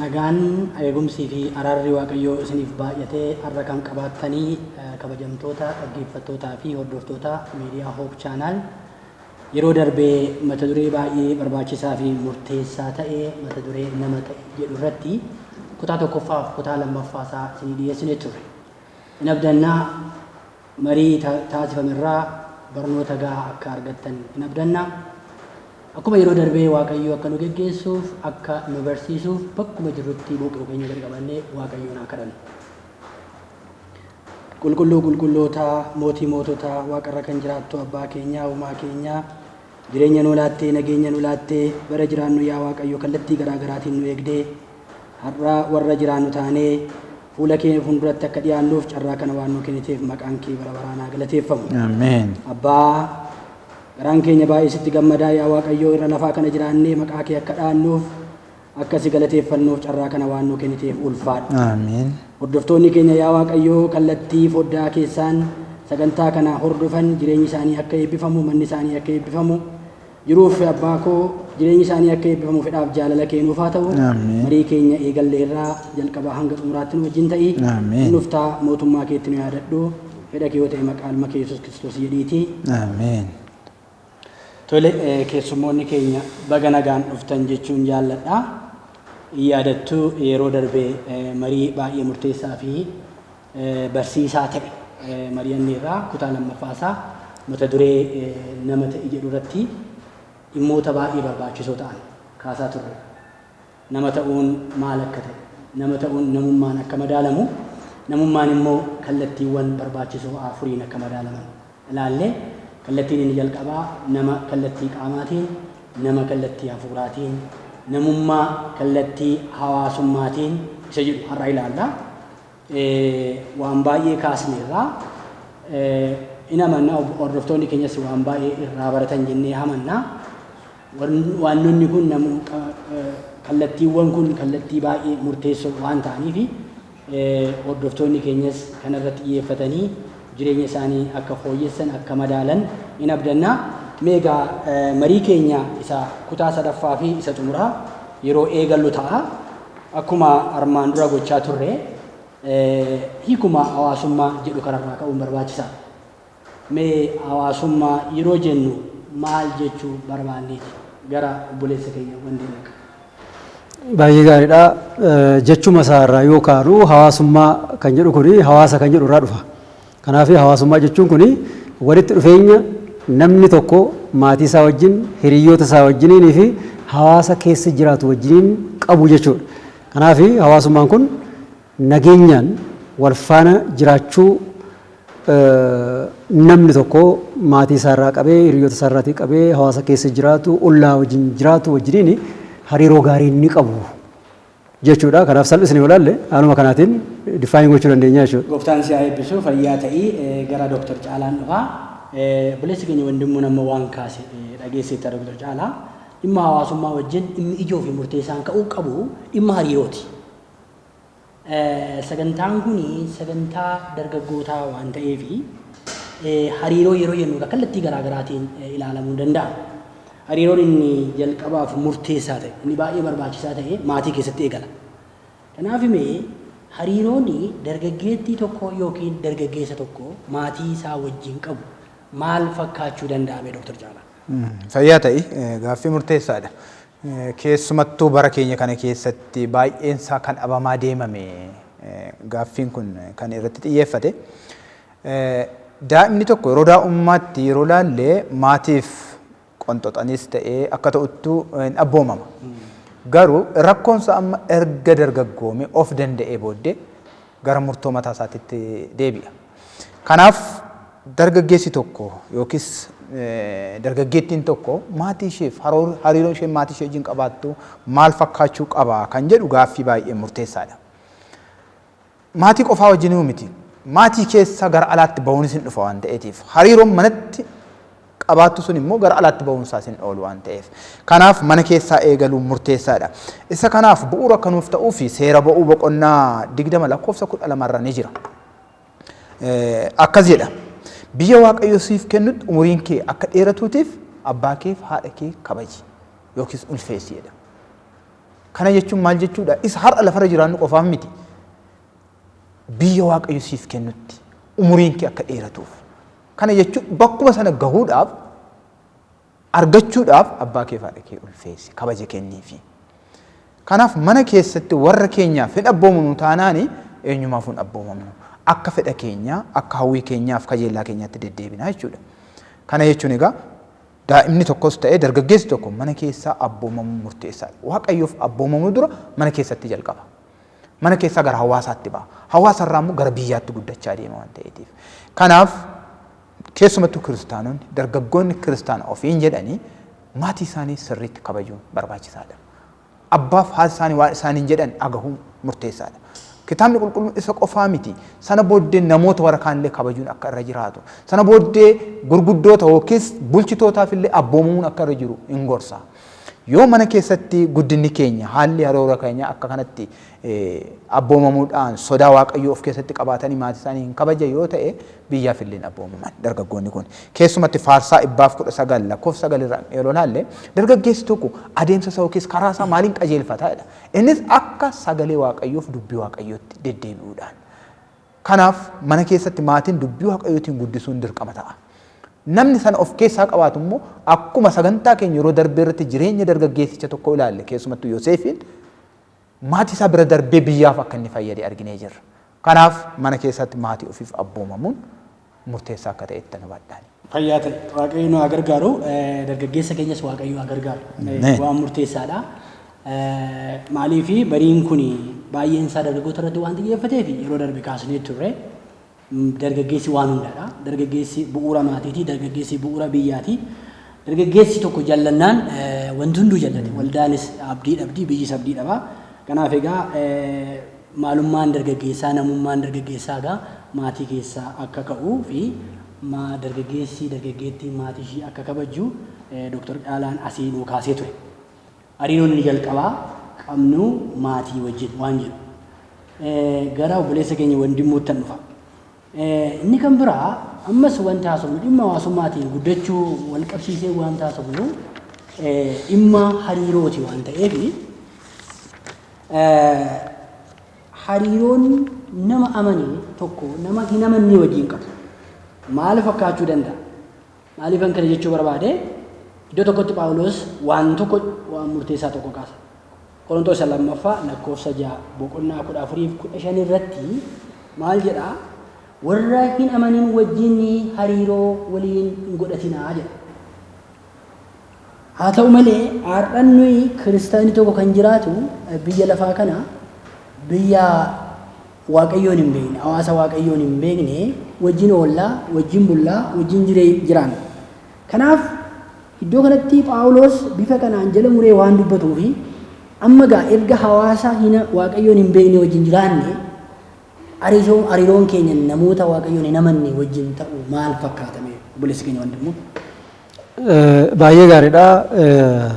Nagaan eegumsii fi araarri Waaqayyoo isiniif baay'atee har'a kan qabaattanii eh, kabajamtoota dhaggeeffattootaa fi hordoftoota miidiyaa Hoop Chaanaal Yeroo darbe mata duree baay'ee barbaachisaa fi murteessaa ta'e mata duree nama ta'i jedhu irratti kutaa tokkoffaa fi kutaa lammaffaa isaa isinii dhiyeessinee turre. In abdanna marii taasifame irraa barnoota gahaa akka argattan in abdanna. Akkuma yeroo darbee Waaqayyoo akka nu geggeessuuf akka nu barsiisuuf bakkuma jirrutti boqoo keenya gad qabannee Waaqayyoon haa kadhannu. Qulqulluu qulqullootaa, Mootii moototaa, Waaqa irra kan jiraattu Abbaa keenyaa, Uumaa keenyaa, jireenya nuu laattee, nageenya nu laattee, bara jiraannu yaa Waaqayyo kallattii garaa garaatiin nu eegdee, har'a warra jiraannu taanee fuula kee fuulduratti akka dhiyaannuuf carraa kana waan nuu kenniteef maqaan kee bara baraan haa galateeffamu. Ameen. Abbaa, garaan keenya baay'ee sitti gammadaa yaa Waaqayyo irra lafaa kana jiraannee maqaa kee akka dhaannuuf Akka si galateeffannuuf carraa kana waan nuu kenniteef ulfaadhu. Aamiin. Hordoftoonni keenya yaa Waaqayyoo kallattii foddaa keessaan sagantaa kana hordofan jireenyi isaanii akka eebbifamu, manni isaanii akka eebbifamu, jiruuf abbaa koo jireenyi isaanii akka eebbifamu fedhaaf jaalala kee nuuf haa ta'u. Aamiin. Marii keenya eegalle irraa jalqabaa hanga xumuraatti nu wajjin ta'i. Aamiin. Hin dhuftaa mootummaa keetti nu yaadadhu. Fedha kee yoo ta'e maqaa ilma kee Yesuus Kiristoos jedhiitii. Aamiin. Tole, keessummoonni keenya baga nagaan dhuftan jechuun jaalladha. Yaadattu yeroo darbe marii baay'ee murteessaa fi barsiisaa ta'e mari'anneerra. Kutaa lammaffaa isaa mata duree nama ta'i jedhu irratti dhimmoota baay'ee barbaachisoo ta'an kaasaa turre. Nama ta'uun maal akka ta'e, nama ta'uun namummaan akka madaalamu, namummaan immoo kallattiiwwan barbaachisoo afuriin akka madaalaman ilaalle. Kallattiin inni jalqabaa nama kallattii qaamaatiin, nama kallattii hafuuraatiin, namummaa kallattii hawaasummaatiin isa jedhu har'a ilaalla. waan baay'ee kaasneerra. In amanna hordoftoonni keenyas waan baay'ee irraa baratan jennee amanna. Waanonni kun kallattiiwwan kun kallattii baay'ee murteessoo waan ta'aniif hordoftoonni keenyas kana irratti xiyyeeffatanii jireenya isaanii akka fooyyessan akka madaalan in abdanna. Meegaa marii keenya isa kutaa sadaffaa fi isa xumuraa yeroo eegallu ta'a. Akkuma armaan dura gochaa turre hiikuma hawaasummaa jedhu kanarraa ka'uun barbaachisaa. Mee hawaasummaa yeroo jennu maal jechuu barbaanneeti? Gara obboleessa keenya wandeen dhaqa. Baay'ee gaariidha. Jechuma isaarraa yoo kaanu hawaasummaa kan jedhu kuni hawaasa kan jedhu irraa dhufa. Kanaaf hawaasummaa jechuun kun walitti dhufeenya namni tokko maatii isaa wajjin, hiriyyoota isaa wajjiniinii fi hawaasa keessa jiraatu wajjiniin qabu jechuudha. Kanaaf hawaasummaan kun nageenyaan wal faana jiraachuu namni tokko maatii isaa irraa qabee, hiriyyoota isaa irraatii qabee, hawaasa keessa jiraatu, ollaa wajjin jiraatu wajjiniin hariiroo gaarii inni qabu. jechuudha. Kanaaf salphisnee yoo ilaalle haaluma kanaatiin define gochuu dandeenya jechuudha. Gooftaan si haa eebbisu fayyaa ta'i gara Doktar Caalaan dhufa. Obboleessi keenya Wandimmuun amma waan kaase dhageesseetta Doktar Caalaa. Dhimma hawaasummaa wajjin dhimmi ijoo fi murteessaan ka'uu qabu dhimma hariirooti. Sagantaan kun sagantaa dargaggootaa waan ta'eef hariiroo yeroo jennu kallattii garaa garaatiin ilaalamuu danda'a. Hariiroon inni jalqabaaf murteessaa ta'e, inni baay'ee barbaachisaa ta'e maatii keessatti eegala. Kanaaf mee hariiroon dargaggeettii tokkoo ykn dargaggeessa tokko maatii isaa wajjin qabu maal fakkaachuu danda'a mee Dr. Caalaa? Fayyaa ta'i. Gaaffii murteessaa dha. Keessumattuu bara keenya kana keessatti baay'een isaa kan dhabamaa deemame gaaffiin kun kan irratti xiyyeeffate. Daa'imni tokko yeroo daa'ummaatti yeroo laalle maatiif qonxoxaniis ta'ee akka ta'uttu hin abboomama. Garuu rakkoonsa amma erga dargaggoome of danda'ee booddee gara murtoo mataa isaatitti deebi'a. Kanaaf dargaggeessi tokko yookiis dargaggeettiin tokko maatii isheef hariiroon isheen maatii ishee wajjin qabaattu maal fakkaachuu qaba kan jedhu gaaffii baay'ee murteessaadha. Maatii qofaa wajjinuu miti. Maatii keessa gara alaatti ba'uunis hin dhufa waan ta'eetiif. Hariiroon manatti qabaattu sun immoo gara alaatti ba'uun isaas hin oolu waan ta'eef. Kanaaf mana keessaa eegaluun murteessaadha. Isa kanaaf bu'uura akka nuuf ta'uu fi seera ba'uu boqonnaa 20 lakkoofsa 12 irra ni jira. Akkas jedha. Biyya Waaqayyo siif kennutti umuriin kee akka dheeratuutiif abbaa keef haadha kee kabaji yookiis ulfeessi jedha. Kana jechuun maal jechuudha? Isa har'a lafarra jiraannu qofaaf miti. Biyya Waaqayyo siif kennutti umuriin kee akka dheeratuuf. Kana jechuun bakkuma sana gahuudhaaf argachuudhaaf abbaa kee fi haadha kee ulfeessi kabaja kenniifi. Kanaaf mana keessatti warra keenyaaf hin abboomamnu taanaani eenyumaaf hin abboomamnu. Akka fedha keenyaa, akka hawwii keenyaaf kajeellaa keenyaatti deddeebinaa jechuudha. Kana jechuun egaa Daa'imni tokkos ta'e dargaggeessi tokko mana keessaa abboomamuun murteessaadha. Waaqayyoof abboomamuu dura mana keessatti jalqaba. Mana keessaa gara hawaasaatti ba'a. Hawaasa irraa immoo gara biyyaatti guddachaa deema waan ta'eetiif. Kanaaf keessumattuu kiristaanonni dargaggoonni kiristaana ofiin jedhanii maatii isaanii sirriitti kabajuun barbaachisaadha. Abbaaf haati isaanii waan isaaniin jedhan dhagahuun murteessaa dha. Kitaabni Qulqulluun isa qofaa miti, sana booddee namoota warra kaan illee kabajuun akka irra jiraatu, sana booddee gurguddoota yookiis bulchitootaaf illee abboomamuun akka irra jiru in gorsa. Yoo mana keessatti guddinni keenya, haalli haroora keenyaa akka kanatti abboomamuu dhaan sodaa Waaqayyoo of keessatti qabaatanii maatii isaanii hin kabajan yoo ta'e biyyaaf illee hin abboomaman dargaggoonni kun. Keessumatti Faarsaa dhibbaaf 19 lakkoofsa 9 irraan yeroo ilaalle dargaggeessi tokko adeemsa isaa yookiis karaa isaa maaliin qajeelfata jedha. Innis akka sagalee Waaqayyoof dubbii Waaqayyootti deddeebi'uudhaan. Kanaaf mana keessatti maatiin dubbii Waaqayyootiin guddisuun dirqama ta'a. Namni sana of keessaa qabaatu immoo akkuma sagantaa keenya yeroo darbee irratti jireenya dargaggeessicha tokko ilaalle keessumattuu Yoseefiin Maatii isaa bira darbee biyyaaf akka inni fayyade arginee jirra. Kanaaf mana keessatti maatii ofiif abboomamuun murteessaa akka ta'e ittan hubadha. Fayyaa ta'i. Waaqayyo nu haa gargaaru. Dargaggeessa keenyas Waaqayyo haa gargaaru. Ameen. Waan murteessaadha. Maaliif bariin kun baay'een isaa dargaggoota irratti waan xiyyeeffateef yeroo darbe kaasnee turre. Dargaggeessi waan hundaadha. Dargaggeessi bu'uura maatiiti. Dargaggeessi bu'uura biyyaati. Dargaggeessi tokko jallannaan wanti hunduu jallate. Waldaanis abdii dhabdi, biyyis abdii dhaba. Kanaaf egaa maalummaan dargaggeessaa, namummaan dargaggeessaa egaa maatii keessaa akka ka'u fi dargaggeessi dargaggeettiin maatii ishii akka kabajju Doktar Caalaan asii nuu kaasee ture. Hariiroon inni jalqabaa qabnu maatii wajjin waan jedhu. Gara obboleessa keenya Wandimmuuttan dhufa. Inni kan biraa ammas wanti haasofnu dhimma hawaasummaatiin guddachuu wal qabsiisee wanti haasofnu dhimma hariirooti waan ta'eef hariiroon nama amane tokko nama hin amannee wajjin qabu maal fakkaachuu danda'a? Maaliifan kana jechuu barbaade? Iddoo tokkotti Phaawulos waan tokko waan murteessaa tokko kaasa. Qorontoos isa lammaffaa lakkoofsa ja'a boqonnaa kudha afuriif kudha shan irratti maal jedha? Warra hin amanin wajjin hariiroo waliin hin godhatinaa jedha. Haa ta'u malee har'an nuyi kiristaanni tokko kan jiraatu biyya lafaa kana biyya Waaqayyoon hin beekne, hawaasa Waaqayyoon hin beekne wajjin oolla, wajjin bulla, wajjin jire, jiraanna. Kanaaf iddoo kanatti Phaawulos bifa kanaan jala muree waan dubbatuu fi amma gaa erga hawaasa hina Waaqayyoon hin beekne wajjin jiraanne hariisoon hariiroon keenya namoota Waaqayyoon hin amanne wajjin ta'u maal fakkaata mee obboleessi keenya wandimmoo? Eh, Baay'ee gaariidha. Eh,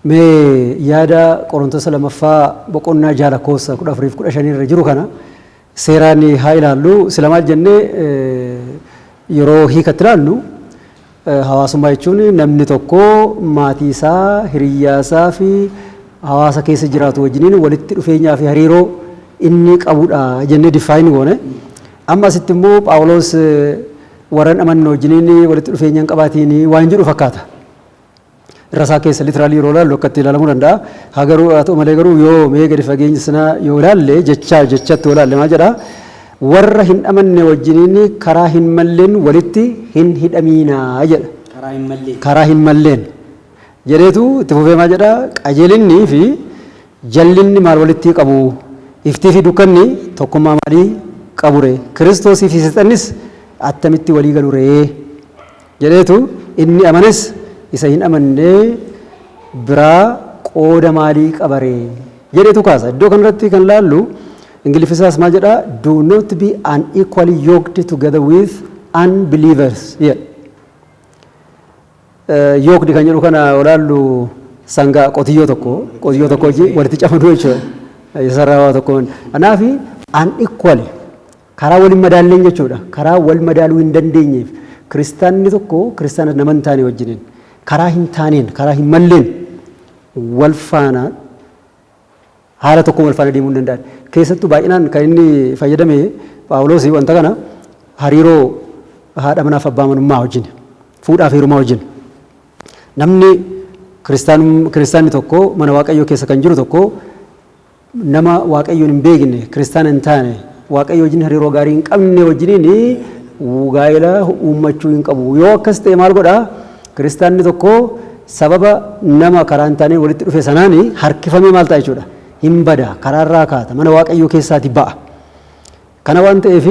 Mee yaada Qorontosa lamaffaa boqonnaa ja'a lakkoofsa kudha afurii fi kudha shanii irra jiru kana seeraan haa ilaallu. Sila maal jennee yeroo hiikatti ilaallu hawaasummaa jechuun namni tokko maatii isaa, hiriyyaa isaa fi hawaasa keessa jiraatu wajjiniin walitti dhufeenyaa fi hariiroo inni qabudha jennee diffaayin goone. Amma asitti immoo Phaawuloos warran amanne wajjiniin walitti dhufeenya hin qabaatiin waan jedhu fakkaata. irra isaa keessa literally yeroo ilaallu akka itti ilaalamuu danda'a. Haa garuu haa ta'u malee garuu yoo mee gadi fageenyi sanaa yoo ilaalle jechaa jechatti yoo ilaalle maal jedha? Warra hin amanne wajjiniin karaa hin malleen walitti hin hidhamiinaa jedha. Karaa hin malleen. Karaa hin malleen. Jedheetu itti fufee maal jedha? Qajeelinni fi jallinni maal walitti qabu? Iftii fi dukkanni tokkummaa maalii qabure? Kiristoosii fi seexannis attamitti walii galuree? jedheetu inni amanes isa hin amanne biraa qooda maalii qaba ree? jedheetu kaasa. Iddoo kanarratti kan laallu Ingiliffisaas maal jedha? Do not be unequally yoked together with unbelievers jedha. Yoked kan jedhu kana olaallu sangaa qotiyyoo tokko qotiyyoo tokko wajjin walitti camaduu jechuudha. Isa sarara waa tokkoon. Kanaaf unequally Karaa wal hin madaalleen jechuu dha. Karaa wal madaaluu hin dandeenyeef kiristaanni tokko kiristaana nama hin taane wajjiniin karaa hin taaneen, karaa hin malleen wal faana haala tokkoon wal faana deemuu hin danda'an. Keessattuu baay'inaan kan inni fayyadame Phaawuloos wanta kana hariiroo haadha manaa fi abbaa manummaa wajjin, fuudhaa fi heerumaa wajjin. Namni kiristaanni tokko mana Waaqayyoo keessa kan jiru tokko, Nama Waaqayyoon hin beekne, kiristaana hin taane, Waaqayyo wajjin hariiroo gaarii hin qabne wajjiniin gaa'ela uummachuu hin qabu. Yoo akkas ta'e maal godha? Kiristaanni tokko sababa nama karaa hin taaneen walitti dhufe sanaan harkifamee maal ta'a jechuudha? Hin bada, karaarraa kaata, mana Waaqayyoo keessaati ba'a. Kana waan ta'eef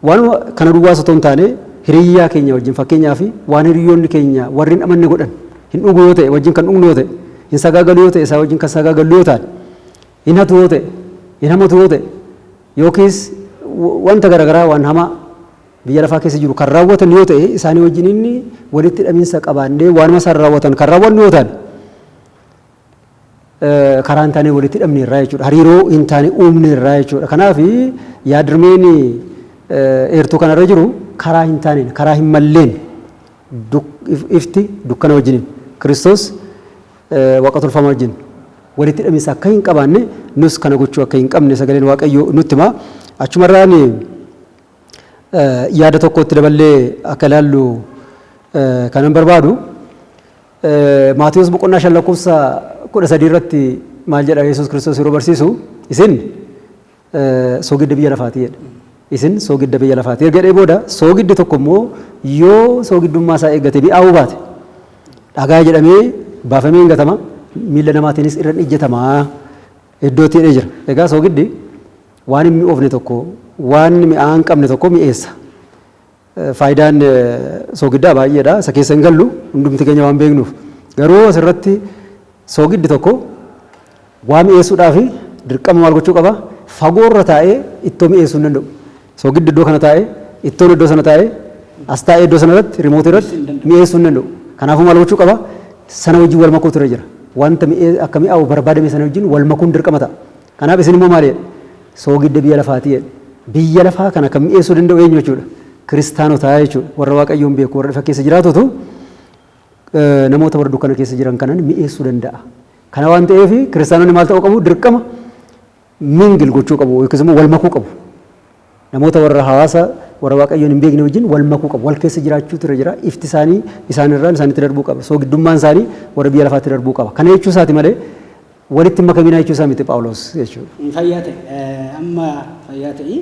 waanuma kana duwwaas otoo hin taane hiriyyaa keenya wajjin fakkeenyaaf waan hiriyyoonni keenya warri hin amanne godhan hin dhugu yoo ta'e wajjin kan dhugnu yoo ta'e hin sagaagalu yoo ta'e isaa wajjin kan sagaagallu yoo taane hin hatu yoo ta'e hin hamatu yoo ta'e yookiis wanta garagaraa waan hamaa biyya lafaa keessa jiru kan raawwatan yoo ta'e isaanii wajjin inni walitti hidhaminsa qabaannee waanuma isaan raawwatan kan raawwannu yoo taane karaa hin taaneen walitti hidhamne irraa jechuudha. Hariiroo hin taane uumne irraa jechuudha. Kanaaf yaadrimeen eertuu kanarra jiru karaa hin taaneen, karaa hin malleen ifti dukkana wajjiniin Kiristoos waaqa tolfamaa wajjin walitti hidhaminsa akka hin qabaanne nus kana gochuu akka hin qabne sagaleen Waaqayyoo nutti hima. Achumarraan yaada tokkotti daballee akka ilaallu kanan barbaadu. Maatiyos boqonnaa 5 lakkoofsa 13 irratti maal jedha Yesuus Kiristoos yeroo barsiisu isin soogidda biyya lafaati jedhe. Isin soogidda biyya lafaati erga jedhee booda soogiddi tokko immoo yoo soogiddummaa isaa eeggate mi'aawuu baate dhagaa jedhamee baafamee hin gatama miila namaatiinis irra hin ijjatama iddootti jedhee jira. Egaa soogiddi waan hin mi'oofne tokko waan mi'aa hin qabne tokko mi'eessa. Faayidaan soogiddaa baay'eedha. Isa keessa hin gallu hundumti keenya waan beeknuuf. Garuu asirratti soogiddi tokko waa mi'eessuudhaaf dirqama maal gochuu qaba? Fagoorra taa'ee ittoo mi'eessuu hin danda'u. Soogiddi iddoo kana taa'ee, ittoon iddoo sana taa'ee, as taa'ee iddoo sana irratti, rimootii irratti mi'eessuu hin danda'u. Kanaafuu maal gochuu qaba? Sana wajjin wal makuutu irra jira. Wanta akka mi'aawu barbaadame sana wajjin wal makuun dirqama ta'a. Kanaaf isin immoo maal jedhe? Soogidda biyya lafaati jedhe. Biyya lafaa kana kan mi'eessuu danda'u eenyu jechuudha? Kiristaanota jechuudha. Warra Waaqayyoon beeku, warra ifa keessa jiraatutu namoota warra dukkana keessa jiran kanan mi'eessuu danda'a. Kana waan ta'eef kiristaanonni maal ta'uu qabu? Dirqama mingil gochuu qabu yookiis immoo wal makuu qabu. Namoota warra hawaasa warra Waaqayyoon hin beekne wajjin wal makuu qabu. Wal keessa jiraachuutu irra jira. Ifti isaanii isaan irraan isaanitti darbuu qaba. Soogiddummaan isaanii warra biyya lafaatti darbuu qaba. Kana jechuu isaati malee walitti hin makaminaa jechuu isaa miti Phaawulos jechuudha. Fayyaa ta'i. Amma fayyaa ta'i.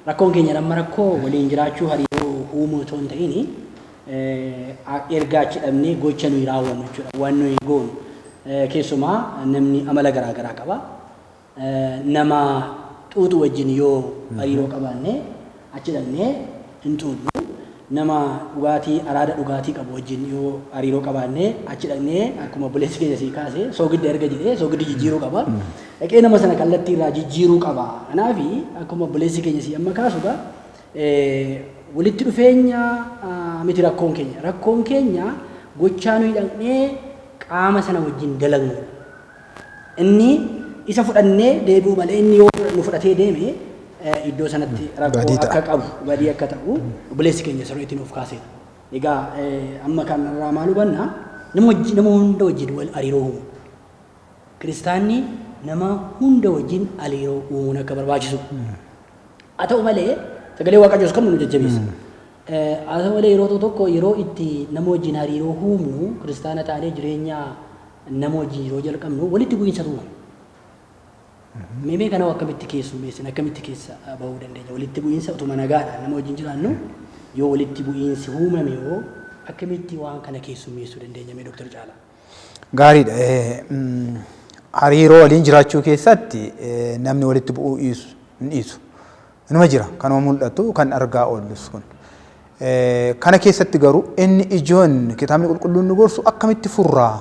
Rakkoon keenya amma rakkoo waliin jiraachuu hariiroo uumuu otoo hin ta'in erga achi dhabnee gocha nuyi raawwannu jechuudha. Waan nuyi goonu. Keessumaa namni amala garaa garaa qaba. Nama xuuxu wajjin yoo hariiroo qabaanne achi dhaqnee hin xuuxnu. Nama dhugaatii araada dhugaatii qabu wajjin yoo hariiroo qabaanne achi dhaqnee akkuma obboleessi keenya sii kaase soogidda erga jedhee soogiddi jijjiiruu qaba. Dhaqee nama sana kallattii irraa jijjiiruu qaba. Kanaaf akkuma obboleessi keenya sii amma kaasu egaa walitti dhufeenya miti rakkoon keenya. Rakkoon keenya gochaa nuyi dhaqnee qaama sana wajjin dalagnu. Inni isa fudhannee deebi'uu malee inni yoo nu fudhatee deeme iddoo sanatti rakkoo Badii ta'a. akka qabu badii akka ta'u obboleessi keenya sirriitti nuuf kaaseera. Egaa eh, amma kanarraa maal hubanna nama wajji- nama hunda wajjin wal hariiroo uumu. Kiristaanni nama hunda wajjin hariiroo uumuun akka barbaachisu Haa ta'u malee sagalee Waaqayyoos kan nu jajjabeessa. Haa ta'u malee yeroo tokko yeroo itti nama wajjin hariiroo uumnu kiristaana taanee jireenya nama wajjin yeroo jalqabnu walitti bu'iinsa uumama. Meemee kana akkamitti keessummeessin akkamitti keessa bahuu dandeenya walitti bu'iinsa utuma nagaadhaan nama wajjin jiraannu yoo walitti bu'iinsi uumame hoo akkamitti waan kana keessummeessuu dandeenya mee Dooktar Caalaa? Gaariidha. Hariiroo waliin jiraachuu keessatti namni walitti bu'uu dhiisu hin dhiisu. Inuma jira kanuma mul'atu kan argaa oollus kun. Kana keessatti garuu inni ijoon kitaabni qulqulluun nu gorsu akkamitti furraa?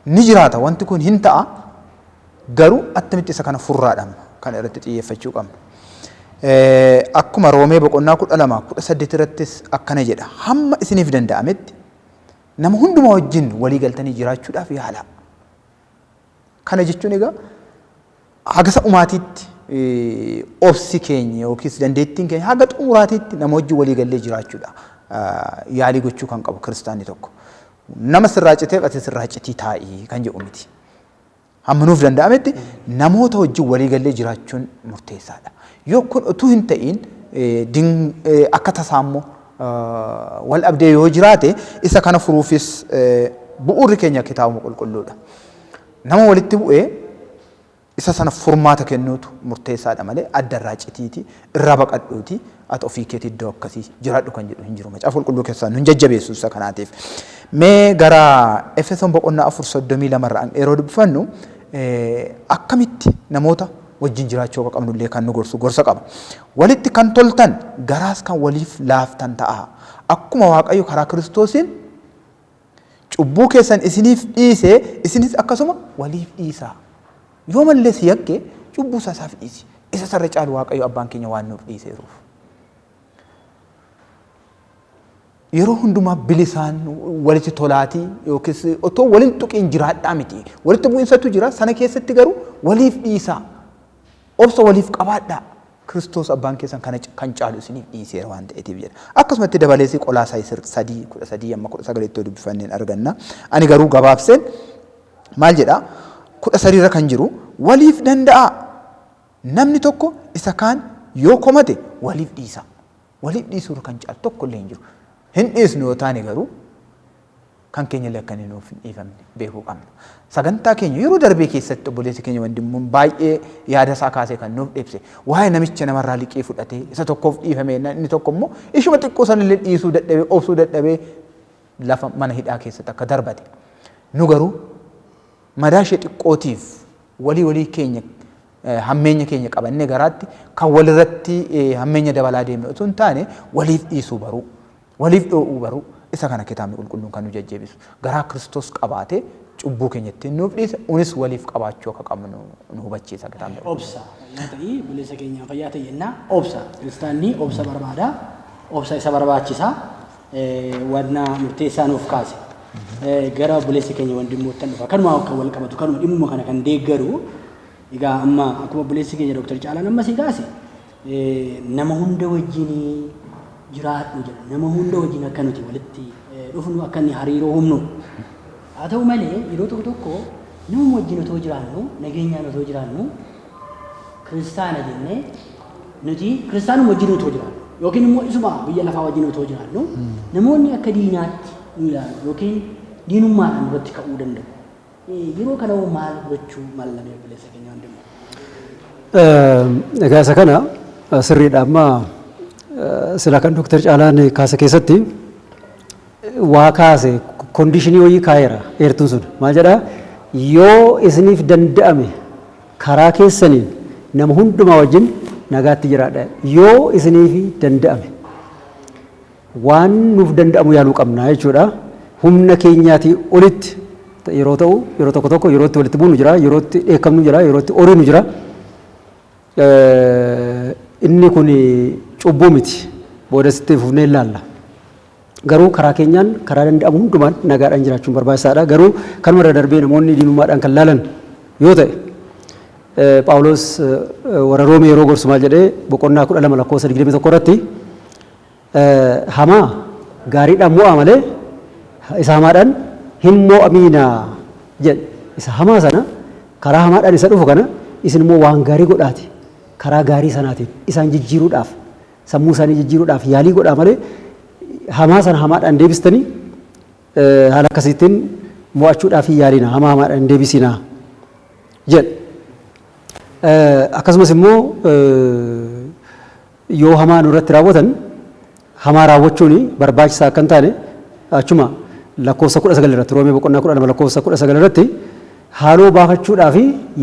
Ni jiraata wanti kun hin ta'a garuu attamitti isa kana furraadhaan kan irratti xiyyeeffachuu qabna. Akkuma Roomee boqonnaa kudha lama kudha saddeet irrattis akkana jedha hamma isiniif danda'ametti Nama hundumaa wajjin walii galtanii jiraachuudhaaf yaalaa. Kana jechuun egaa hagasa umaatiitti obsi keenya yookiis dandeettiin keenya haga xumuraatiitti nama wajjin walii gallee jiraachuudha. Yaalii gochuu kan qabu kiristaanni tokko. Nama sirraa citeef ati sirraa citii taa'ii kan jedhu miti. Hamma nuuf danda'ametti namoota wajjin walii gallee jiraachuun murteessaadha. Yoo kun utuu hin ta'iin akka tasaa immoo wal dhabdee yoo jiraate isa kana furuufis bu'uurri keenya kitaabuma qulqulluudha. Nama walitti bu'ee isa sana furmaata kennuutu murteessaadha malee adda irraa citiiti irraa baqadhuuti ati ofii keetii iddoo akkasii jiraadhu kan jedhu hin jiru. Macaafa qulqulluu keessaa nun jajjabeessu isa kanaatiif. Mee gara Efesoon boqonnaa afur soddomii lama irraa yeroo dubbifannu akkamitti namoota wajjin jiraachuu akka qabnu illee kan nu gorsu gorsa qaba. Walitti kan toltan garaas kan waliif laaftan ta'a. Akkuma Waaqayyo karaa Kiristoosiin Cubbuu keessan isiniif dhiisee isinis akkasuma waliif dhiisaa. Yoo mallee si yakke cubbuu isaa isaaf dhiisi. Isa sarra caalu Waaqayyo abbaan keenya waan nuuf dhiiseeruuf. Yeroo hundumaa bilisaan walitti tolaatii yookiis otoo waliin tuqiin jiraadhaa miti. Walitti bu'insatu jira sana keessatti garuu waliif dhiisaa. Obsa waliif qabaadhaa. Kiristoos Abbaan keessan kana kan caalu isiniif dhiiseera waan ta'eetiif jedha. Akkasuma itti dabalees Qolaasaayis 3, 13-19 ittoo dubbifannee hin arganna. Ani garuu gabaabseen maal jedha 13 irra kan jiru waliif danda'aa namni tokko isa kaan yoo komate waliif dhiisaa. Waliif dhiisuu irra kan caalu tokko illee hin jiru. Hin dhiisnu yoo taane garuu kan keenya illee akka inni nuuf hin dhiifamne beekuu qabna. Sagantaa keenya yeroo darbee keessatti obboleessi keenya wandimmuun baay'ee yaada isaa kaasee kan nuuf ibse waa'ee namicha namarraa liqii fudhatee isa tokkoof dhiifame jennaan inni tokko immoo ishuma xiqqoo sana illee dhiisuu dadhabee obsuu dadhabee lafa mana hidhaa keessatti akka darbate. Nu garuu madaa ishee xiqqootiif walii walii keenya Hammeenya keenya qabannee garaatti kan walirratti hammeenya dabalaa deemne utuu hin taane waliif dhiisuu baruu, waliif dhoo'uu baruu isa kana kitaabni qulqulluun kan nu jajjabeessu. Garaa Kiristoos qabaate cubbuu keenya ittiin nuuf dhiise unis waliif qabaachuu akka qabnu nu hubachiisa kitaabni qulqulluun. Obsa fayyaa ta'i buleessa keenyaa fayyaa ta'i jenna. Obsa kiristaanni obsa barbaada. Obsa isa barbaachisa. Wanna murteessaa nuuf kaase. Gara buleessa keenya wandimmoottan dhufa. Kanuma kan wal qabatu kanuma dhimmuma kana kan deeggaru Egaa amma akkuma obboleessi keenya Dr. Caalaan amma si kaase nama hunda wajjin jiraadhu jedha. Nama hunda wajjin akka nuti walitti dhufnu akka inni hariiroo humnu. Haa ta'u malee yeroo tokko tokko nama wajjin otoo jiraannu nageenyaan otoo jiraannu kiristaana jennee nuti kiristaanuma wajjin otoo jiraannu yookiin immoo isuma biyya lafaa wajjin otoo jiraannu namoonni akka diinaatti nu ilaalu yookiin diinummaadhaan irratti ka'uu danda'u. Yeroo kana hoo maal gochuu mallamee obboleessa keenya wandimmoo? Egaa isa kana sirriidha amma sila kan Dooktar Caalaan kaasa keessatti waa kaase kondiishinii wayii kaa'eera eertuun sun maal jedhaa yoo isiniif danda'ame karaa keessaniin nama hundumaa wajjin nagaatti jiraadha yoo isiniif danda'ame waan nuuf danda'amu yaaluu qabna jechuudha. Humna keenyaatii olitti yeroo ta'u, yeroo tokko tokko yeroo itti walitti buunu jira, yeroo itti dheekkamnu jira, yeroo itti oriinu jira. Inni kun cubbuu miti. Boodas itti fufnee hin laalla. Garuu karaa keenyaan karaa danda'amu hundumaan nagaadhaan jiraachuun barbaachisaadha. Garuu kanuma irra darbee namoonni diinummaadhaan kan laalan yoo ta'e Phaawulos warra Roomee yeroo gorsu maal jedhee boqonnaa 12 lakkoofsa 21 irratti Hamaa gaariidhaan mo'aa malee isa hamaadhaan hin mo'amiinaa jedhe. Isa hamaa sana karaa hamaadhaan isa dhufu kana isin immoo waan gaarii godhaati karaa gaarii sanaatiin isaan jijjiiruudhaaf sammuu isaanii jijjiiruudhaaf yaalii godhaa malee hamaa sana hamaadhaan deebistanii haala akkasiitiin mo'achuudhaaf hin yaalina hamaa hamaadhaan hin deebisinaa jedhe. Akkasumas immoo Yoo hamaa nurratti raawwatan hamaa raawwachuun barbaachisaa akka hin taane achuma lakkoofsa 19 irratti Roomee boqonnaa 12 lakkoofsa 19 irratti haaloo baafachuudhaaf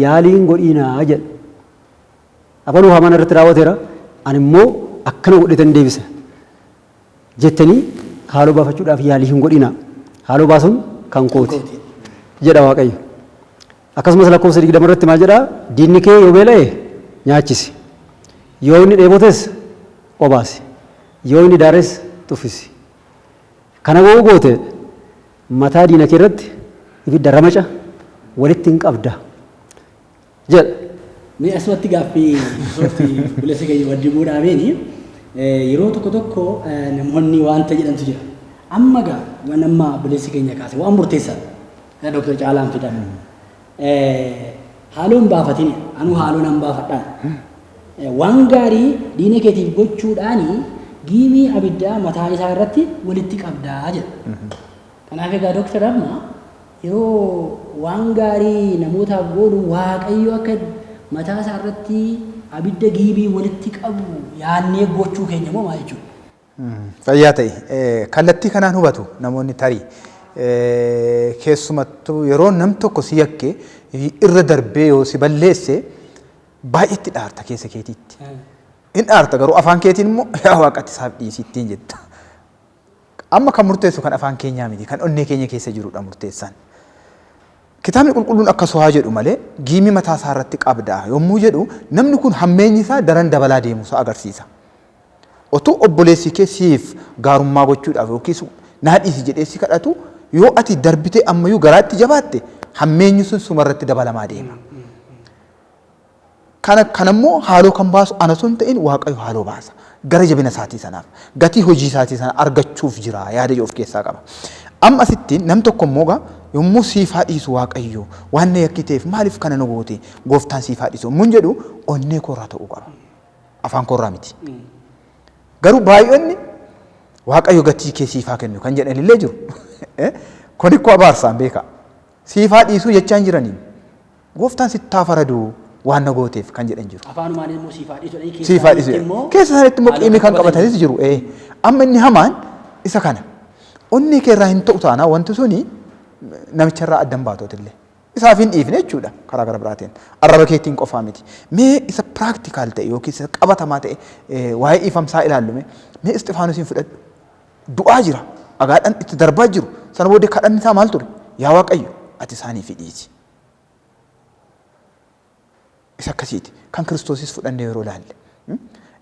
yaalii hin godhiinaa jedha. Abaluu hamaa narratti raawwateera ani immoo akkana godheetan deebisa. jettanii haaloo baafachuudhaaf yaalii hin godhinaa, haaloo baasuun kan kooti jedha Waaqayyo. Akkasumas lakkoofsa 20 irratti maal jedhaa? Diinni kee yoo beela'e nyaachisi, yoo inni dheebotes obaasi, yoo inni daares tuffisi. Kana yoo goote mataa diina kee irratti ibidda ramaca walitti in qabda. jedha. Mee asumatti gaaffii soofti obboleessa keenya waddibuu dhaabeeni yeroo tokko tokko namoonni wanta jedhantu jira. Amma gaa waan amma obboleessi keenya kaase waan murteessaadha. Dooktar Caalaan fidan. Haaloo hin baafatin anuu haaloo nan baafadhaan. Waan gaarii diina keetiif gochuudhaan giimii abiddaa mataa isaa irratti walitti qabdaa jedha. Kanaaf egaa dooktar amma Yeroo waan gaarii namootaaf goonu Waaqayyo akka mataa isaa irratti abidda giibii walitti qabu yaadnee gochuu keenya moo maal jechuudha? Fayyaa ta'i. Kallattii kanaan hubatu namoonni tarii. Keessumattuu yeroo nam tokko si yakke irra darbee yoo si balleesse baay'eetti dhaarta keessa keetiitti. In dhaarta garuu afaan keetiin immoo yaa waaqatti isaaf dhiisittiin jetta. Amma kan murteessu kan afaan keenyaa miti, kan onnee keenya keessa jiru dha murteessaan. Kitaabni Qulqulluun akkas haa jedhu malee, giimii mataa isaa irratti qabda yommuu jedhu, namni kun hammeenyi isaa daran dabalaa deemuu isaa agarsiisa. Otuu obboleessi kee siif gaarummaa gochuudhaaf yookiis naa dhiisi jedhee si kadhatu, yoo ati darbitee amma iyyuu garaatti jabaatte, hammeenyi sun suma irratti dabalamaa deema. Kana kana immoo haaloo kan baasu ana osoo hin ta'in Waaqayyo haaloo baasa. Gara jabina isaatii sanaaf, gatii hojii isaatii sana argachuuf jira yaada jedhu of keessaa qaba. Amma asitti nam tokko immoo egaa yommuu siif haa dhiisu Waaqayyo waan na yakkiteef maaliif kana na goote gooftaan siif haa dhiisu yommuun jedhu onnee koo irraa ta'uu qaba. Afaan koo irraa miti. Garuu baay'onni Waaqayyo gatii kee siif haa kennu kan jedhan illee jiru. Kun ikkoo abaarsaan beekaa. Siif haa dhiisuu jechaa hin jiraniin. Gooftaan sitti haa faradu waan na gooteef kan jedhan jiru. Afaanumaan immoo siif haa dhiisu jedhanii Siif haa dhiisu keessaanitti jedhan. immoo Keessa isaaniitti immoo haaloo qiimii kan kan qabatan qabatanis jiru. jiru. Ee. Amma inni hamaan isa kana. Onnee kee irraa hin ta'u taanaa wanti suni namicha irraa addan baatootillee. Isaaf hin dhiifne jechuudha karaa gara biraatiin. Arraba keetiin qofaa miti. Mee isa piraktikaal ta'e yookiin isa qabatamaa ta'e ee, waa'ee dhiifamsaa ilaallu mee. Mee Isxifaanusiin fudhadhu. Du'aa jira. Dhagaadhaan itti darbaa jiru. Sana booddee kadhanni isaa maal ture? Yaa Waaqayyo ati isaaniif dhiisi. Isa akkasiiti. Kan Kiristoosis fudhannee yeroo ilaalle.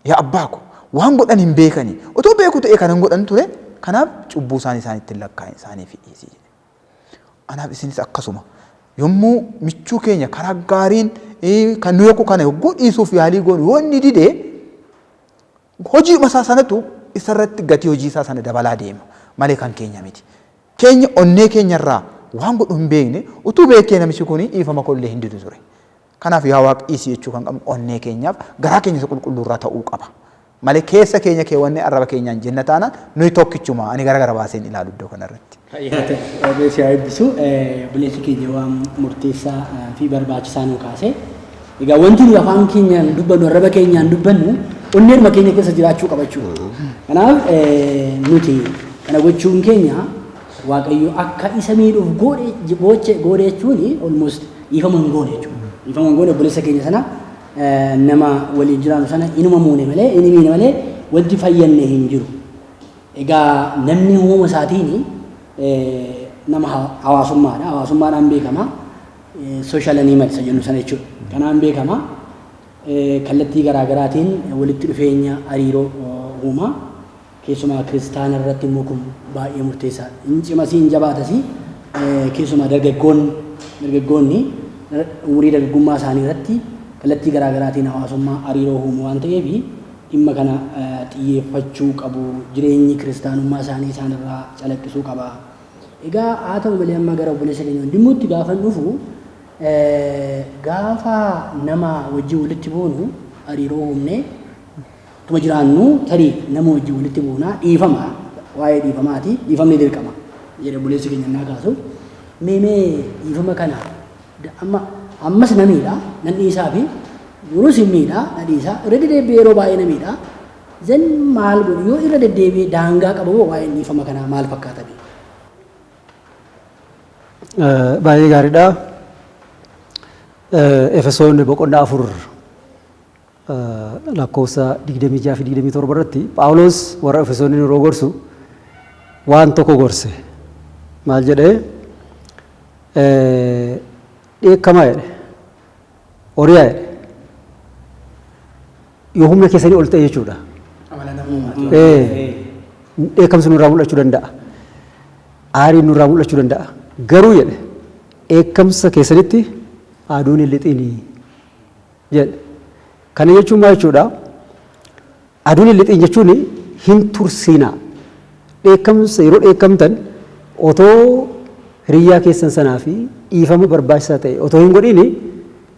Yaa abbaa ko waan godhan hin beekani. Otoo beeku ta'ee kanan godhan ture kanaaf cubbuu isaan isaanitti hin lakkaa'in isaaniif dhiisi jedhe. Anaaf isinis akkasuma yommuu michuu keenya karaa gaariin kan nu yakku kana yogguu dhiisuuf yaalii goonu yoo inni dide Hojiidhuma isaa sanatu isa irratti gatii hojii isaa sana dabalaa deema malee kan keenya miti. Keenya onnee keenya irraa waan godhu hin beekne, utuu beekee namichi kun dhiifama koo illee hin didu ture. Kanaaf yaa Waaq dhiisi jechuu kan qabnu onnee keenyaaf garaa keenya isa qulqulluu irraa ta'uu qaba. Malee keessa keenya keewwannee arraba keenyaan jenna taanaan nuyi tokkichuma ani gara gara baaseen ilaalu iddoo kana irratti. Fayyaa ta'e waaqayyo si haa eebbisu. Obboleessi keenya waan murteessaa fi barbaachisaa nu kaase. Egaa wanti nu afaan keenyaan dubbannu arraba keenyaan dubbannu onneeruma keenya keessa jiraachuu qaba jechuudha. Kanaaf nuti kana gochuun keenya waaqayyo akka isa miidhuuf goodhe gooche goodhe jechuun almost dhiifama hin goone jechuudha. Dhiifama hin goone obboleessa keenya sana nama waliin jiraannu sana inuma muune malee inni miine malee wanti fayyanne hin jiru. Egaa namni uumama isaatiin nama hawaasummaadha. Hawaasummaadhaan beekama. Social animal isa jennu sana jechuudha. Kanaan beekama. Kallattii garaa garaatiin walitti dhufeenya hariiroo uuma. Keessumaa kiristaana irratti immoo kun baay'ee murteessaadha. Hin cimasii hin jabaatasii keessumaa dargaggoonni dargaggoonni umurii dargaggummaa isaanii irratti kallattii garaa garaatiin hawaasummaa hariiroo uumu waan ta'eef dhimma kana xiyyeeffachuu qabu. Jireenyi kiristaanummaa isaanii isaan irraa calaqqisuu qaba. Egaa haa ta'u malee amma gara obboleessa keenya Wandimmuutti gaafan dhufu gaafa nama wajjin walitti buunu hariiroo uumnee tuma jiraannu tarii nama wajjin walitti buuna dhiifama waa'ee dhiifamaati dhiifamni dirqama jedhe obboleessi keenya innaa kaasu meemee dhiifama kana da, amma, ammas na miidha, nan dhiisaa fi yeroo sin miidha, na dhiisa, irra deddeebi'ee yeroo baay'ee na miidha, then maal godhu yoo irra deddeebi'ee daangaa qabu moo waa'een dhiifama kanaa maal fakkaata bee? Baay'ee gaariidha. Efesoon boqonnaa afur lakkoofsa 26 fi 27 irratti Phaawulos warra Efesooniin yeroo gorsu waan tokko gorse. Maal jedhee? Dheekkamaa jedhe. Oriyaa jedhe. Yoo humna keessanii ol ta'e jechuudha. Dheekkamsi nurraa mul'achuu danda'a. Aariin nurraa mul'achuu danda'a. Garuu jedhe dheekkamsa keessanitti aduun hin lixinii. jedhe. Kana jechuun maal jechuudha? Aduun hin lixin jechuun hin tursiinaa. Dheekkamsa yeroo dheekkamtan otoo hiriyyaa keessan sanaa fi dhiifama barbaachisaa ta'e otoo hin godhiin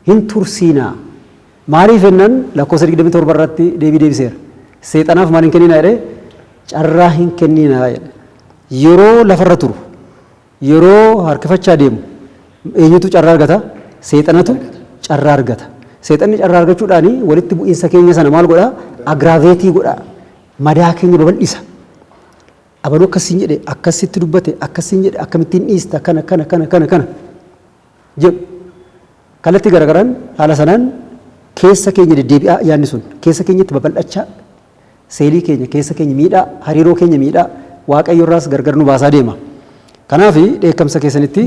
hin tursiinaa. Maaliif jennaan lakkoofsa 27 irratti deebii deebiseera. Seexanaaf maal hin kenninaa jedhee carraa hin kenninaa jedhe. Yeroo lafarra turu Yeroo harkifachaa deemu eenyutu carraa argata? Seexanatu carraa argata. Seexanni carraa argachuudhaan walitti bu'iinsa keenya sana maal godha? Agiraaveetii godha. Madaa keenya babal'isa. Abaluu akkas siin jedhe, akkas sitti dubbate, akkas siin jedhe, akkamittiin dhiista, akkana, akkana, akkana, akkana, akkana jedhu. Kallattii garagaraan haala sanaan keessa keenya deddeebi'aa yaadni sun keessa keenyatti babal'achaa Seelii keenya, keessa keenya miidha, hariiroo keenya miidha, Waaqayyo irraas gargar nu baasaa deema. Kanaaf dheekkamsa keessanitti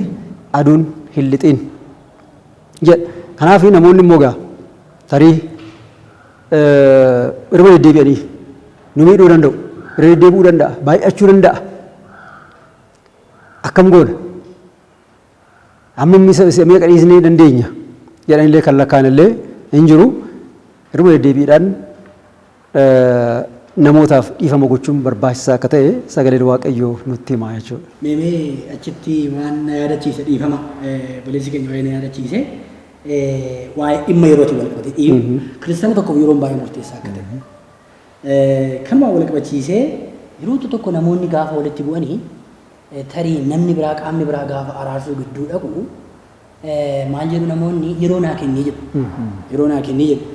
aduun hin lixiin jedha. Kanaaf namoonni immoo gaa tarii irra deddeebi'anii nu miidhuu danda'u, irra deddeebi'uu danda'a, baay'achuu danda'a. Akkam goona? Amma inni isa isa meeqa dhiisnee dandeenya jedhan illee kan lakkaan illee hin jiru. Irma deddeebiidhaan namootaaf dhiifama gochuun barbaachisaa akka ta'e sagaleen Waaqayyoo nutti hima jechuudha. Mee mee achitti waan na yaadachiise dhiifama obboleessi keenya waa'ee na yaadachiise waa'ee dhimma yerootiin wal qabatee iyyuu kiristaana tokkoof yeroon baay'ee murteessaa akka ta'e kanumaan wal qabachiisee yeroo tokko namoonni gaafa walitti bu'anii Tarii namni biraa, qaamni biraa gaafa araarsuu gidduu dhaqu maal jedhu namoonni yeroo naa kenni jedhu. Yeroo naa kenni jedhu.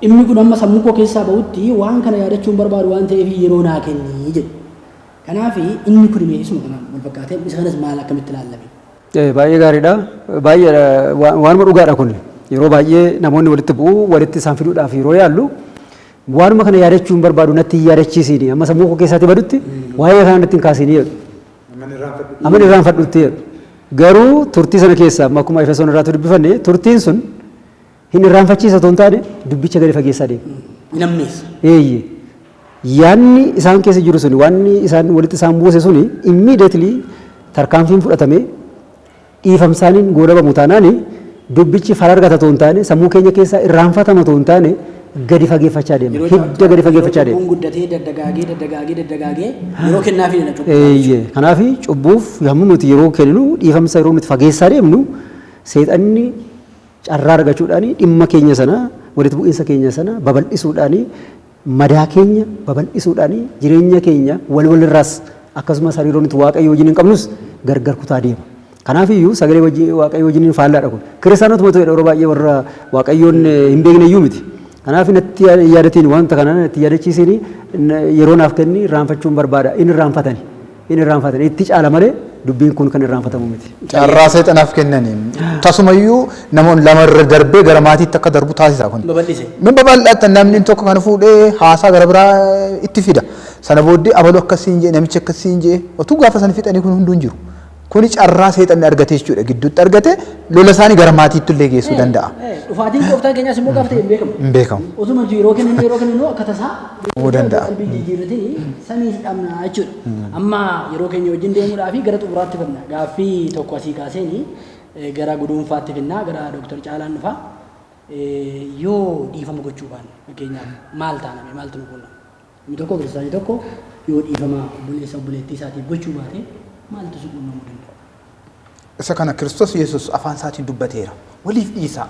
Dhimmi kun amma sammuu koo keessaa ba'utti waan kana yaadachuun barbaadu waan ta'eef yeroo naa kenni jedhu. Kanaaf inni kun imee isuma kanaan wal fakkaatee isa kanas maal akkamitti ilaallame? Baay'ee gaariidha. Baay'ee waanuma dhugaadha kun. Yeroo baay'ee namoonni walitti bu'u walitti isaan fiduudhaaf yeroo yaallu Waanuma kana yaadachuu hin barbaadu natti hin yaadachiisiini. Amma sammuu koo keessaatii badutti waa'ee kana natti hin kaasiini jedhu. Amman irraanfadhutti jedhu. Garuu turtii sana keessa amma akkuma Efesoon irraatu dubbifanne turtiin sun hin irraanfachiisa otoo hin taane dubbicha gadi fageessaa deema. Hin ammeessa. Eeyye. Yaanni isaan keessa jiru suni waanni isaan walitti isaan buuse suni immediately tarkaanfiin fudhatame dhiifamsaaniin goolabamu taanaan dubbichi fala argata otoo hin taane sammuu keenya keessaa irraanfatama otoo hin taane gadi fageeffachaa deema. Yeroo Hidda caaltu gadi yeroo fageeffachaa deema. cubbuun guddatee daddagaagee daddagaagee daddagaagee yeroo kennaafii dha cubbuu. Eeyyee. Kanaaf cubbuuf yommuu nuti yeroo kenninu dhiifamsa yeroo nuti fageessaa deemnu seexanni carraa argachuudhaan dhimma keenya sana walitti bu'iinsa keenya sana babal'isuudhaan Madaa keenya babal'isuudhaan jireenya keenya wal walirraas akkasumas hariiroo nuti Waaqayyo wajjiniin qabnus gargar kutaa deema. Kanaaf iyyuu sagalee wajji- Waaqayyo wajjiniin faallaadha kun. Kiristaanotuma ta'edha yeroo baay'ee warra Waaqayyoon eh, hin beekne iyyuu miti. Kanaaf natti yaa- hin yaadatiin wanta kana natti hin yaadachiisiin yeroo naaf kenni irraanfachuun barbaada. Inni irraanfatani. hin irraanfatan itti caala malee dubbiin kun kan irraanfatamu miti. Carraa seexanaaf kennanii tasumayyuu namoonni lama irra darbee gara maatiitti akka darbu taasisa kun. Babal'ise. Min babal'ata namni tokko kana fuudhee haasaa gara biraa itti fida. Sana booddee abalu akkasiin jee namichi akkasiin jee otuu gaafa sana fixanii kun hunduu hin jiru. Kuni carraa seexanni argate jechuudha gidduutti argate lola isaanii gara maatiitti illee geessuu danda'a. Dhufaatiin gooftaa keenyaas immoo gaafa ta'e hin beekamu. Hin beekamu. Osuma jiru yeroo kennu yeroo kennu akka tasaa Uumuu danda'a. Qalbii jijjiirratini sanii hin dhabnaa jechuudha. Amma yeroo keenya wajjin deemuudhaa fi gara xumuraatti fidna. Gaaffii tokko asii kaaseeni eh, gara guduunfaatti fidna, gara Dooktar Caalaan dhufa. Eh, Yoo dhiifama gochuu baanne fakkeenyaaf maal taaname maaltu nu quunnama? Inni tokko kiristaanii tokko yoo dhiifama obboleessa obboleettii isaatiif gochuu baate maaltu si quunnamuu danda'a? Isa kana Kiristoos Yesuus afaan isaatiin dubbateera. Waliif dhiisaa.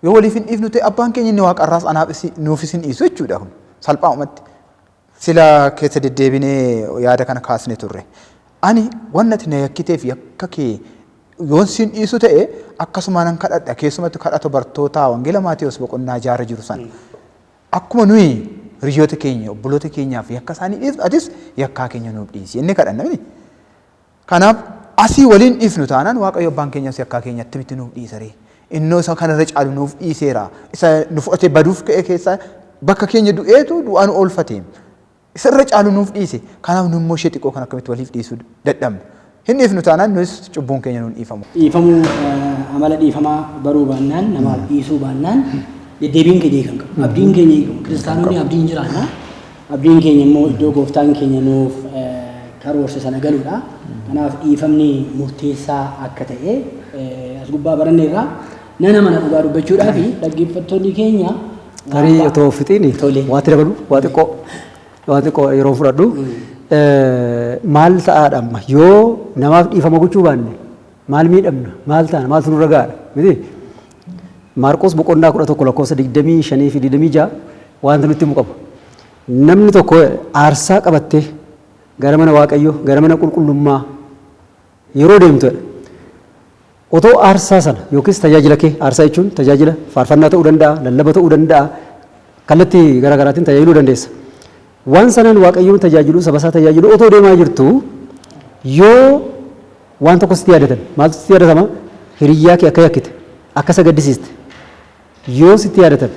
Yoo waliif hin dhiifnu ta'e abbaan keenya inni waaqarraas anaafis nuufis hin dhiisu jechuudha kun salphaa'umatti. Sila keessa deddeebinee yaada kana kaasne turre. Ani wanni ati na yakkiteef yakka kee yoon siin dhiisu ta'e akkasuma nan kadhadha keessumatti kadhata bartootaa wangeela Maatewos boqonnaa jaarra jiru sana. Akkuma nuyi hiriyoota keenya obboloota keenyaaf yakka isaanii dhiifnu atis yakkaa keenya nuuf dhiisi jennee kadhanna miti. Kanaaf asii waliin dhiifnu taanaan Waaqayyo abbaan keenyaa si akkaa keenya attamitti nuuf dhiisa ree? Innoo isa kana irra caalu nuuf dhiiseera. Isa nu fudhatee baduuf ka'e keessaa bakka keenya du'eetu du'aa nu oolfate. Isa irra caalu nuuf dhiise. Kanaaf nu immoo ishee xiqqoo kan akkamitti waliif dhiisuu dadhabna. Hin dhiifnu taanaan nuyis cubbuun keenya nuun dhiifamu. Dhiifamuu amala dhiifamaa baruu baannaan namaaf dhiisuu baannaan deddeebiin keenya hiika hin qabu. Abdiin keenya hiika hin qabu. Kiristaanonni abdiin jiraanna. Abdiin keenya immoo iddoo Gooftaan keenya nuuf karoorse sana galuudha. Kanaaf dhiifamni murteessaa akka ta'e as gubbaa baranneerra. Nan amana dhugaa dubbachuudhaaf dhaggeeffattoonni keenya Tarii waan otoo fixiini Tole. waa itti dabalu waa xiqqoo waa xiqqoo yeroo fudhadhu Eh, maal ta'aadha amma yoo namaaf dhiifama gochuu baanne maal miidhamna maal taana maaltu nurra gaadha miti Maarqos boqonnaa 11 lakkoofsa 25 fi 26 waanti nutti himu qaba. Namni tokko aarsaa qabattee gara mana Waaqayyoo, gara mana qulqullummaa yeroo deemtu jedha. Otoo aarsaa sana yookiis tajaajila kee, aarsaa jechuun tajaajila faarfannaa ta'uu danda'a, lallaba ta'uu danda'a, kallattii gara garaatiin tajaajiluu dandeessa. Waan sanaan Waaqayyoon tajaajiluu, saba isaa tajaajiluu otoo deemaa jirtu yoo Waan tokko sitti yaadatame. Maaltu sitti yaadatama? Hiriyyaa kee akka yakkite, akka isa gaddisiiste yoo sitti yaadatame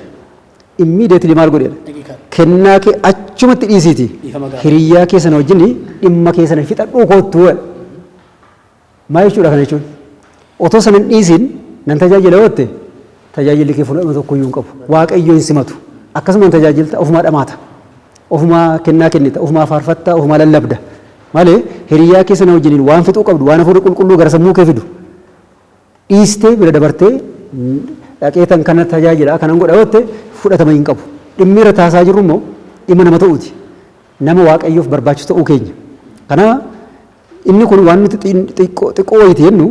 immediately maal godhi jedha? Daqiiqaa. Kennaa kee achumatti dhiisiiti. Dhiifama gaafadhu. Hiriyyaa kee sana wajjin dhimma kee sana fixadhuu koottuu jedha. Maal jechuudha kana jechuun? Otoo sana hin dhiisiin nan tajaajila yoo jette tajaajilli kee fudhatama tokko iyyuu hin qabu. Waaqayyo hin simatu. Akkasuma hin tajaajilta ofumaa dhamaata. Ofumaa kennaa kennita, ofumaa faarfatta, ofumaa lallabda. Malee hiriyyaa kee sana wajjiniin waan fixuu qabdu waan hafuurri qulqulluu gara sammuu kee fidu dhiistee bira dabartee dhaqee tan kana tajaajila kanan godha yoo jette fudhatama hin qabu. Dhimmi irra taasaa jirru immoo dhimma nama ta'uuti. Nama waaqayyoof barbaachisu ta'uu keenya. Kana inni kun waan nuti xiqqoo wayiiti jennu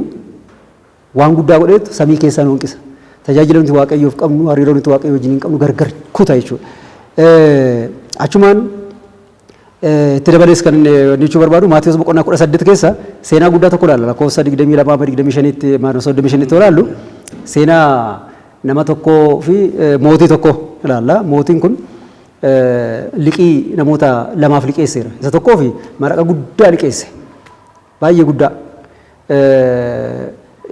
Waan guddaa godheetu samii keessaa nu hanqisa. Tajaajila nuti Waaqayyoof qabnu, hariiroo nuti Waaqayyoo wajjiniin qabnu gargar kuta jechuudha. Achumaan itti dabalees kan inni jechuu barbaadu Maatiyus boqonnaa kudha saddeet keessa seenaa guddaa tokko ilaalla lakkoofsa digdamii lamaa amma digdamii shaniitti maanoo soddomii shaniitti ilaallu seenaa nama tokkoo fi mootii tokko ilaalla mootiin kun liqii namoota lamaaf liqeesseera isa tokkoo fi maraqa guddaa liqeesse baay'ee guddaa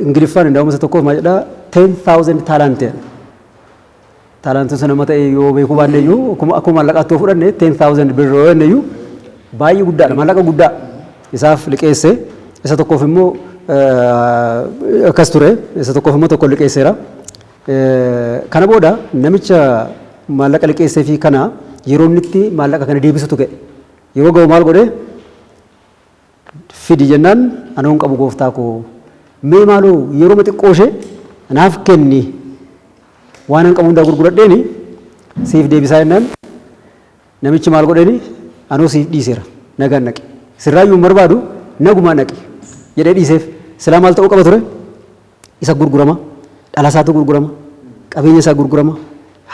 Ingiliffaan indaa'uma isa tokkoof maal jedha 10,000 talent jedha. Talent sun amma ta'e yoo beekuu baanne iyyuu akkuma akkuma maallaqaatti yoo fudhanne 10,000 birr yoo jenne iyyuu baay'ee guddaadha maallaqa guddaa isaaf liqeesse isa tokkoof immoo eh, akkas ture isa tokkoof immoo tokko liqeesseera. Eh, Kana booda namicha maallaqa liqeessee fi kana yeroo inni itti maallaqa kana deebisutu ga'e yeroo ga'u maal godhee fidi jennaan anoo hin qabu gooftaa koo mee maaloo yeroo xiqqoo ishee naaf kenni waan an qabu hundaa gurguradheeni siif deebisaa jennaan namichi maal godheeni anoo siif dhiiseera nagaan dhaqi sirraayyuu hin barbaadu nagumaan dhaqi jedhee dhiiseef silaa maal ta'uu qaba ture isa gurgurama dhala isaatu gurgurama qabeenya isaa gurgurama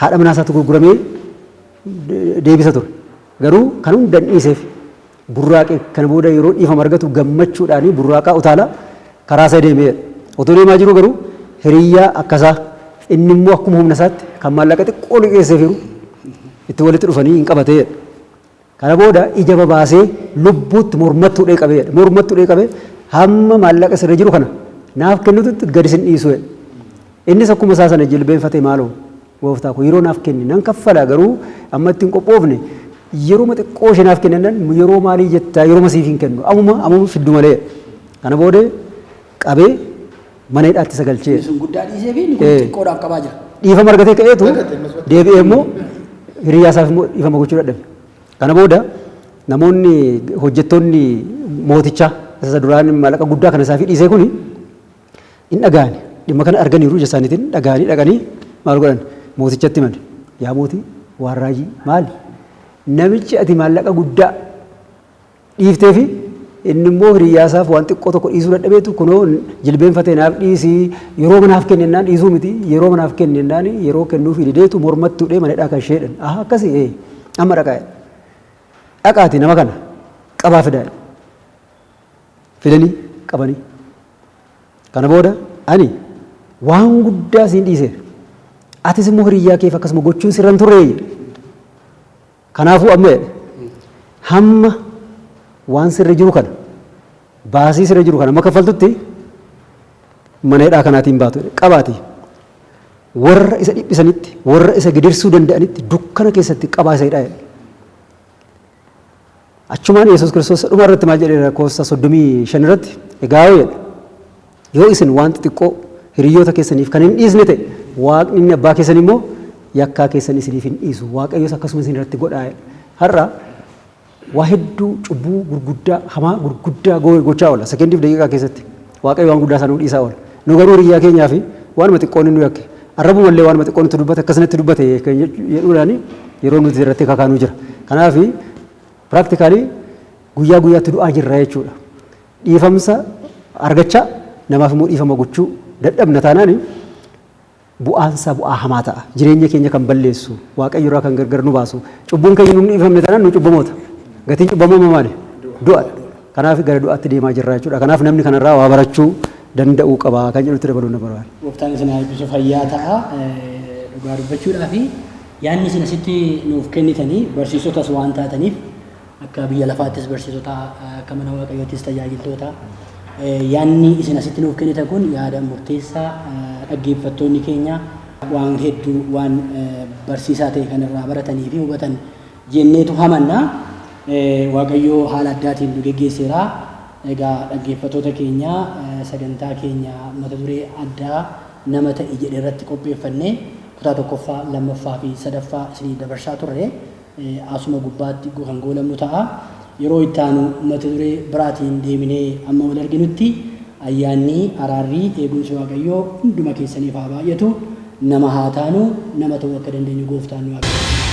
haadha manaa isaatu gurguramee deebisa ture. Garuu kan hundan dhiiseef burraaqe kana booda yeroo dhiifama argatu gammachuudhaan burraaqaa utaalaa karaa isaa deeme jedha. Otoo deemaa jiruu garuu hiriyyaa akka isaa inni immoo akkuma humna isaatti kan maallaqa xiqqoo liqeesseef jiru itti walitti dhufanii hin qabate jedha. Kana booda ija babaasee lubbuutti mormattuu dhee qabee jedha. Mormattuu dhee qabee hamma maallaqa sirra jiru kana naaf kennitutti gadi sin dhiisu jedha. Innis akkuma isaa sana jilbeenfatee maaloo Gooftaa koo yeroo naaf kenni nan kaffala garuu amma itti hin qophoofne yeroma xiqqoo ishee naaf kennan yeroo maalii jettaa yeroma siif hin kennu amuma amuma fiddu malee kana boode qabee mana hidhaatti isa galchee. Inni sun guddaa dhiisee fi inni kun xiqqoodhaaf qabaa jira. Dhiifama argatee ka'eetu deebi'ee immoo hiriyaa isaaf immoo dhiifama gochuu dadhabe. Kana booda namoonni hojjettoonni mootichaa isa duraan maallaqa guddaa kana isaaf dhiisee kuni In dhaga'ani. Dhimma kana arganiiru, ija isaaniitiin dhaga'anii dhaqanii maal godhan? Mootichatti himan. Yaa mootii, waan raajii maali? Namichi ati maallaqa guddaa dhiiftee fi inni immoo hiriyyaa isaaf waan xiqqoo tokko dhiisuu dadhabeetu kunoo jilbeenfatee naaf dhiisi yeroo manaaf kenne innaan dhiisuu miti yeroo manaaf kenne innaan yeroo kennuu fi dideetu mormattuu dhee manadhaa kan ishee dhan aha akkasii ee amma dhaqaa dhaqaati nama kana qabaa fidaa fidanii qabanii kana booda ani waan guddaa siin dhiiseera. Atis immoo hiriyyaa keef akkasuma gochuun sirra hin turree jedhe. Kanaafuu amma jedhe hamma waan sirri jiru kana baasii sirra jiru kana amma kaffaltutti mana hidhaa kanaatiin baatu jedhe. Qabaatii warra isa dhiphisanitti warra isa gidirsuu danda'anitti dukkana keessatti qabaa isa hidhaa jedhe. Achumaan Yesuus Kiristoos dhuma irratti maal jedheera lakkoofsa 35 irratti egaa yoo jedhe yoo isin waan xixiqqoo hiriyoota keessaniif kan hin dhiisne ta'e waaqni inni abbaa keessan immoo yakkaa keessan isiniif hin dhiisu waaqayyos akkasuma isin irratti godhaa har'a waa hedduu cubbuu gurguddaa hamaa gurguddaa gochaa oola sekendiif daqiiqaa keessatti Waaqayyo waan guddaa isaa nuu dhiisaa oola. Nu garuu hiriyyaa keenyaaf waanuma xiqqoo inni nu yakke, arrabuma illee waanuma xiqqoo nutti dubbate akkas natti dubbate kan jedhuudhaan yeroo nuti irratti kakaanu jira. Kanaaf practically guyyaa guyyaatti du'aa jirra jechuudha. Dhiifamsa argachaa namaaf immoo dhiifama gochuu dadhabna taanaan Bu'aan isaa bu'aa hamaa ta'a. Jireenya keenya kan balleessu, Waaqayyo irraa kan gargar nu baasu. Cubbuun keenya nu hin dhiifamne taanaan nu cubbamoota. Gatiin cubbamuu immoo maali? Du'a dha. Kanaaf gara du'aatti deemaa jirra jechuudha. Kanaaf namni kana irraa waa barachuu danda'uu qaba kan jedhutti dabaluun nan barbaada. Gooftaan isin haa eebbisu fayyaa ta'a. Dhugaa dubbachuudhaaf yaadni isin asitti nuuf kennitanii barsiisotas waan taataniif Akka biyya lafaattis barsiisota, akka mana waaqayyoottis tajaajiltoota. Yaadni isin asitti nuuf kennitan kun yaada murteessaa dhaggeeffattoonni keenya waan hedduu waan barsiisaa ta'e kan irraa baratanii fi hubatan jenneetu hamanna. Waaqayyoo haala addaatiin nu geggeesseera. Egaa dhaggeeffattoota keenya sagantaa keenya mata duree addaa nama ta'i jedhe irratti qopheeffannee kutaa tokkoffaa, lammaffaa fi sadaffaa isiniif dabarsaa turre. asuma gubbaatti kan goolabnu ta'a. Yeroo itti aanu mata duree biraatiin deebinee amma wal arginutti ayyaanni, araarri, eegumsi Waaqayyoo hunduma keessaniif haa baay'atu. Nama haa taanu, nama ta'uu akka dandeenyu Gooftaan nu haa gargaaru.